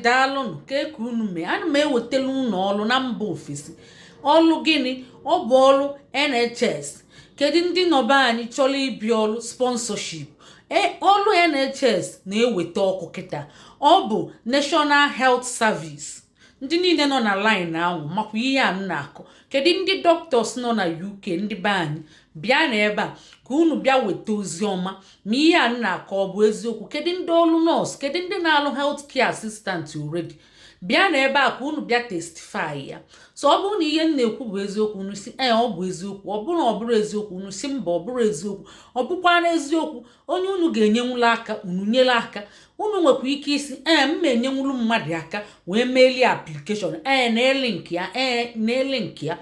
daalụnụ kee ka unu mee ana m ewetara unu ọrụ na mba ofesi ọrụ gịnị ọ bụ ọrụ nhs kedu ndị nọ be anyị chọrọ ịbịa ọrụ sponsorship e, ọrụ nhs na-eweta ọkụ kịta ọ bụ national health service ndị niile nọ na line ahụ makwa ihe a m na-akọ kedu ndị doctors nọ na uk ndị be anyị bịa na ebe a ka unu bịa weta ozi ọma ma ihe a na-akọ ọ bụ eziokwu kedu ndị ọrụ nọọsụ kedu ndị na-alụ health care assistant already bịa na ebe a ka unu bịa testify ya so ọ bụrụ na ihe m na-ekwu bụ eziokwu unu sị ee ọ bụ eziokwu ọ bụrụ na ọ bụrọ eziokwu unu sị mba ọ bụrọ eziokwu ọ bụkwa na eziokwu onye unu ga-enyenwulu aka unu nyere aka unu nwekwa ike ịsị ee m ma enyenwulu mmadụ aka wee meelie application ee na-elink ya ee na-elink ya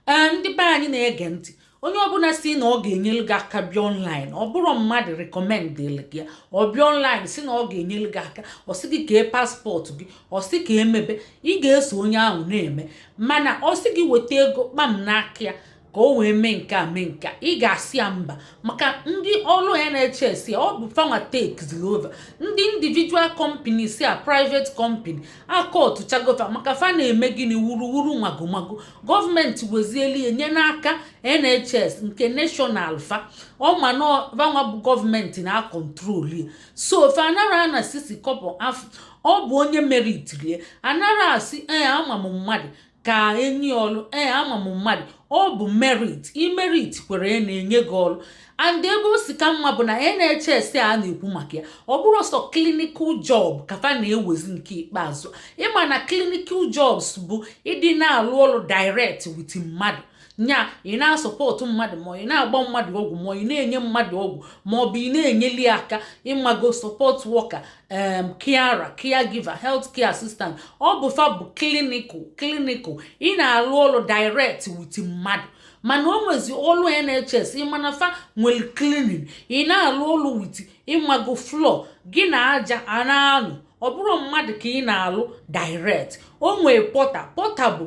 ee ndị be anyị na-ege ntị onye ọbụla sị na ọ ga-enyere gị aka bịa online ọ bụrụ mmadụ rekọmendịrị gị ọ bịa online sị na ọ ga-enyere gị aka ọ sị gị kee passport gị ọ sị ka e mebe ị ga-eso onye ahụ na-eme mana ọ sị gị weta ego kpam n'aka ya ka o wee mee nke a mee nke a ị ga-asị ya mba maka ndị ọrụ nhs ọ bụ fanwa takeziri over ndị individual companies a private company akọtụchago va maka fa na-eme gịnị wuruwuru na magomago gọọmenti wezielu ya nye n'aka nhs nke national fa ọma na fanwa bụ gọọmenti na-acontrol ya so fa anarọ ana sisi kọbọ afụ ọ bụ onye meritiri ya anarọ asị ee ama m mmadụ ka e nye ọlụ ee ama m mmadụ ọ bụ merit i merit kwere na-enye gị ọlụ and ebe o si ka mma bụ na NHS a na-ekwu maka ya ọ bụrọ sọ clinical job ka fa na-ewezi nke ikpeazụ ị ma na clinical jobs bụ ndị na-alụ ọlụ direct with mmadụ nya ị na-asupport mmadụ ma ị na-agba mmadụ ọgwụ ma ị na-enye mmadụ ọgwụ ma ọ bụ ị na-enyeli aka ị mago support worker em carer caregiver health care assistant ọ bụ fa bụ clinical clinical ị na-alụ ọlụ direct with mmadụ mana o nwezi ọlụ nhs ị ma na fa nwere cleaning ị na-alụ ọlụ with ị mago floor gị na aja a na-alụ ọ bụrọ mmadụ ka ị na-alụ direct o nwee porter porter bụ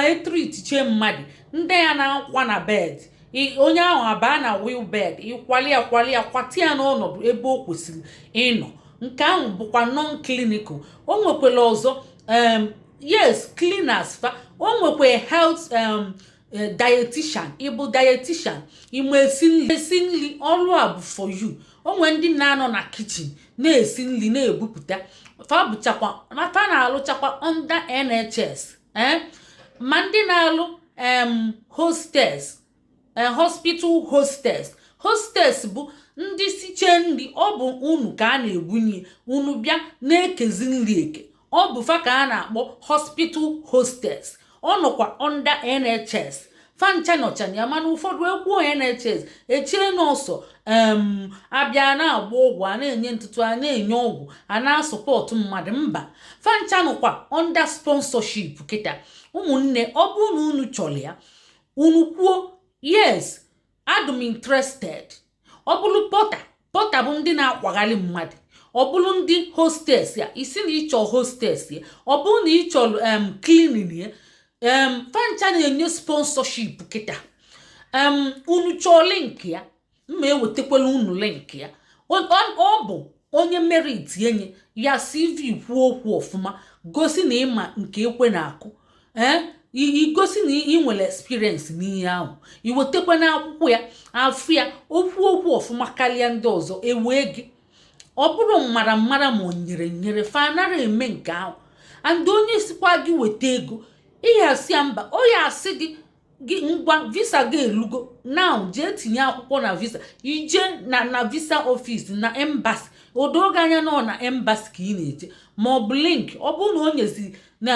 e treatiche mmadụ ndị ya na-akwa na bed onye ahụ abaa na wheel bed ị kwali ya kwali ya kwati ya n'ọnọdụ ebe o kwesịrị ịnọ nke ahụ bụkwa non clinical o nwekwara ọzọ yes cleaners fa o nwekwa health um, eh, dietitian ị bụ dietitian ị ma esi nri esi nri ọrụ a bụ for you o nwee ndị na-anọ na kitchen na-esi nri na-ebupụta fa bụchakwa fa na-alụchakwa under NHS eh? ma ndị na-alụ em hostess a hospital hostess hostess bụ ndị siche nri ọ bụ unu ka a na-ebunye unu bịa na-ekezi nri eke ọ bụ fa ka a na-akpọ hospital hostess ọ nọkwa under NHS fancha nọcha na ya mana ụfọdụ ekwuo NHS echie na ọ sọ em abịa na-agba ọgwụ a na-enye ntụtụ a na-enye ọgwụ a na-asupport mmadụ mba fancha nọkwa under sponsorship kịta ụmụnne ọ bụrụ na unu chọrọ ya unu kwuo yes adị m interested ọ bụrụ porter porter bụ ndị na-akwagharị mmadụ ọ bụrụ ndị hostess ya ị sị na ị chọ hostess ya ọ bụrụ na ị chọrọ em cleaning ya em fancha na-enye sponsorship kịta em unu chọọ link ya m ma-ewetakwala unu link ya ọ bụ onye merit e nye ya CV kwuo okwu ọfụma gosi na ị ma nke ekwe na-akụ ee eh? i gosi na ị nwere experience n'ihe ahụ i wetekwa na akwụkwọ ya a fụ ya o kwuo okwu ọfụma karịa ndị ọzọ ewee gị ọ bụrụ mmara mmara ma o nyere nyere fa anara eme nke ahụ and onye sịkwa gị weta ego ị ya asị ya mba ọ ya asị gị ngwa visa gị elugo now jee tinye akwụkwọ na visa i je na na visa office na embassy o do gị anya na ọ na embassy ka ị na-eje ma ọ bụ link ọ bụrụ na o nyezi na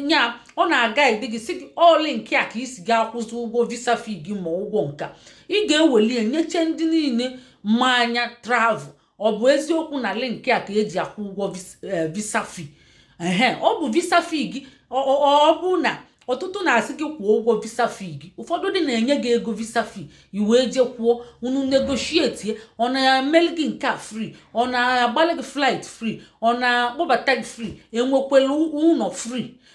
ya ọ na-aguide gị sị gị ọ link a ka i si ga-akwụzi ụgwọ visa fee gị ma ụgwọ nka ị ga-eweli ya nyeche ndị niile ma a ya travel ọ bụ eziokwu na link a ka eji akwụ ụgwọ eh, visa fee ehe ọ bụ visa fee gị ọ bụ na ọtụtụ na-asị gị kwụọ ụgwọ visa fee gị ụfọdụ dị na-enye gị ego visa fee i wee jee kwụọ unu negotiate ọ na-emeli gị nke a free ọ na-agbalị gị flight free ọ na-akpọbata gị free enwekwelu ụnọ free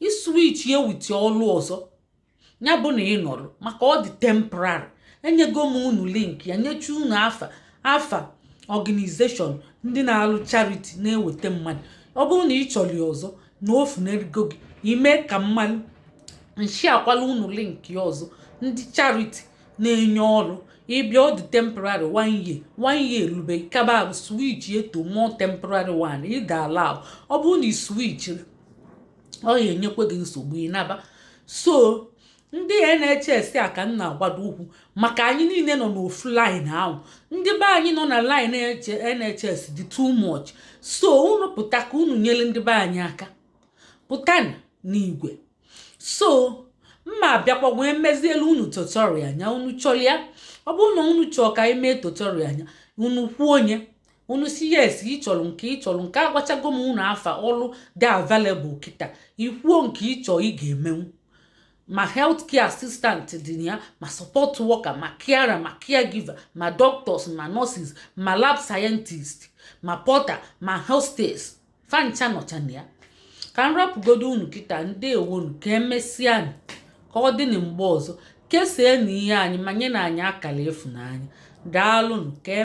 ị switch ya with ọlụ ọzọ ya bụ na ị nọrọ maka ọ dị temporary enyego m unu link ya nyecha unu afa afa organization ndị na-alụ charity na-eweta mmadụ ọ bụrụ na ị chọrọ ya ọzọ na o funarigo gị i mee ka m malụ m sharekwala unu link ya ọzọ ndị charity na-enye ọrụ ị bịa ọ dị temporary one year one year erube kaba switch to more temporary one ị ga-ala ọ bụrụ na ị switchiri ọ ya enyekwa gị nsogbu ị naba so ndị NHS a ka m na-agbado ụkwụ maka anyị niile nọ n'ofu line ahụ ndị be anyị nọ na line NHS dị too much so unu pụta ka unu nyere ndị be anyị aka pụta n'igwe so m ma-abịakwa wee mezielu unu tutorial on ya unu chọrọ ya ọ bụrụ na unu chọọ ka anyị mee tutorial on ya unu kwuo onye unu si yes ị chọrọ nke ị chọrọ nke agwachago m unu afa ọlụ dị available kịta i kwuo nke ị chọọ ị ga-emenwu ma health care assistant dị na ya ma support worker ma carer ma caregiver ma doctors ma nurses ma lab scientist ma porter ma hostess fancha nọcha na ya ka m rapụgodo unu kịta ndewonu ka emesịa ka ọ dị na mgbe ọzọ kesaanụ ihe anyị ma nyenụ anyị akara ịfụnanya daalụnụ ka e